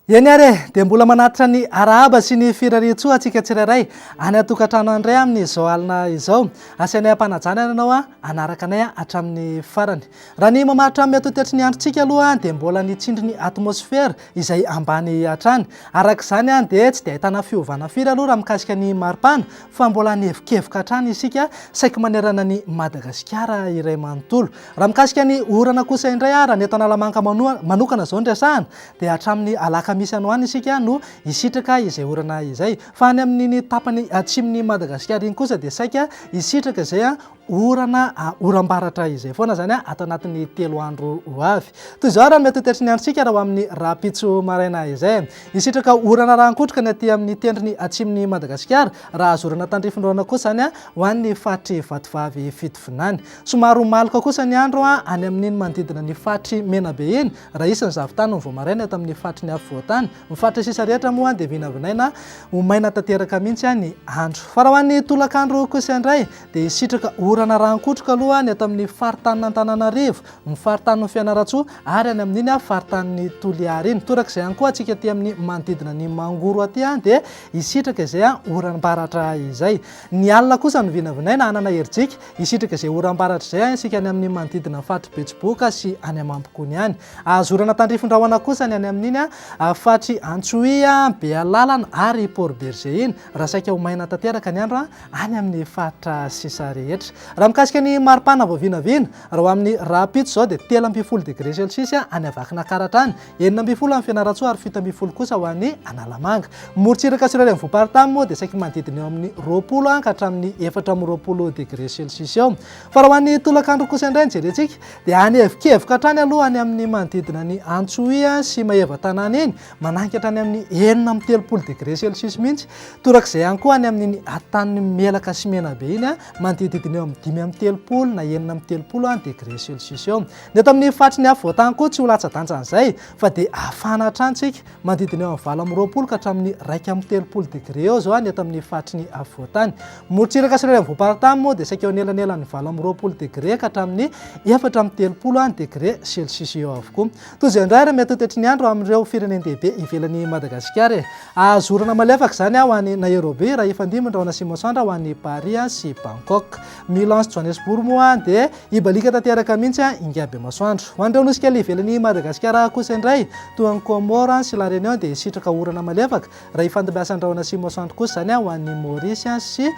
Eny ary e, dia mbola manatitra ny arahaba sy ny firarian-tsoa antsika tsirairay any an-tokantrano any indray amin'izao alina izao. Asianay am-panajana ary ianao hanaraka anay hatramin'ny farany. Raha ny mamaritra amin'ny atotetry ny androntsika aloha dia mbola ny tsindrin'ny atmosfera izay ambany hatrany. Araka izany dia tsy dia ahitana fiovana firy aloha raha mikasika ny maripana fa mbola anevokevoka hatrany isika saiky manerana an'i Madagasikara iray manontolo. Raha mikasika ny orana kosa indray ary any eto Analamanga manokana izao ny resahana dia hatramin'ny alakamisy any ho any isika no hisitraka izay orana izay. Fa any amin'iny tapany atsimon'i Madagasikara iny kosa dia saika hisitraka izay orana oram-baratra izay foana izany ato anatin'ny telo andro ho avy. Toy izao ary no mety ho toetry ny androntsika raha ho amin'ny rahampitso maraina izay. Hisitraka orana rahan-kotroka ny aty amin'ny tendrony atsimon'i Madagasikara, raha azo orana tandrifin'orana kosa izany ho an'ny faritry Vatovavy Fitovinany. Somary ho maloka kosa ny andro any amin'iny manodidina ny faritry Menabe iny, raha hisy ny zavon-tany ny vao maraina eto amin'ny faritry ny afovoan-tany. Ny faritra sisa rehetra moa dia vinavinaina ho maina tanteraka mihitsy ny andro. Fa raha ho an'ny tolakandro kosa indray, dia hisitraka orana rankotroka aloha ny ato amin'ny faritanin'Antananarivo, ny faritanin'i Fianarantsoa ary any amin'iny faritanin'i Toliara iny. Torak'izay ihany koa antsika aty amin'ny manodidina ny Mangoro aty dia hisitraka izay oram-baratra izay. Ny alina kosa no vinavinaina hanana herijika hisitraka izay oram-baratra izay isika any amin'ny manodidina ny faritry Betsiboka sy any Amambokony any. Hahazo orana tandrifin-drahona kosa ny any amin'iny faritry Antsohihy, Bealalana ary Port Bergé iny raha saika ho maina tanteraka ny andro any amin'ny faritra sisa rehetra. Raha mikasika ny maripana vao vinavina, raha ho amin'ny rahampitso izao dia telo ambin'ny folo degré celsius any Avakinakaratra any, enina ambin'ny folo any Fianarantsoa ary fito ambin'ny folo kosa ho any Analamanga. Ny morontsiraka sy ireo renivohi-paritany moa dia saiky manodidina eo amin'ny roapolo any ka hatramin'ny efatra amby roapolo degré celsius eo. Fa raha ho an'ny tolakandro kosa indray no jerentsika dia hanevokevoka hatrany aloha any amin'ny manodidina an'i Antsohihy sy Maevatanàna iny Manainga hatrany amin'ny enina amby telopolo degré Celsius mihitsy. Torak'izay ihany koa any amin'iny atan'ny Melaka sy Menabe iny, manodididina eo amin'ny dimy amby telopolo na enina amby telopolo degré Celsius eo. Ny eto amin'ny faritry ny afovoan-tany koa tsy ho latsa-danja an'izay fa dia hafana hatrany isika, manodidina eo amin'ny valo amby roapolo ka hatramin'ny iraika amby telopolo degré eo izao ny eto amin'ny faritry ny afovoan-tany. Morontsiraka sy renivohi-paritany moa dia saika eo anelanelan'ny valo amby roapolo degré ka hatramin'ny efatra amby telopolo degré Celsius eo avokoa. Toy izao indray ary miha-totetry ny andro amin'ireo firenen-dehibe ivelan'i Madagasikara e! Azo orana malefaka izany ho an'i Nairobi raha hifandimby ny rahona sy masoandro ho an'i Paris sy Bangkok. Milan sy Johannesburg moa dia hibaliaka tanteraka mihitsy ingabemasoandro. Ho an'ireo nosy kely ivelan'i Madagasikara kosa indray toa an'i Comores sy La Réunion dia hisitraka orana malefaka raha hifandimbiasan'ny rahona sy masoandro kosa izany ho an'i Maurice sy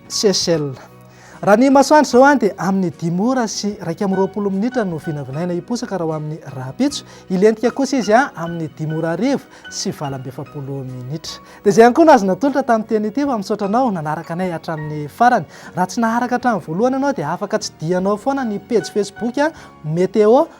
Seychelles. Raha ny masoandro izao an, dia amin'ny dimy ora sy iraika amby roapolo minitra no vinavinaina hiposaka raha ho amin'ny rahampitso. Hilentika kosa izy an, amin'ny dimy ora hariva sy valo amby efapolo minitra. Dia izay ihany koa no azo natolotra tamin'ny teny ity fa misaotra anao nanaraka anay hatramin'ny farany. Raha tsy naharaka hatramin'ny voalohany ianao dia afaka tsidihanao foana ny pejy facebook Météo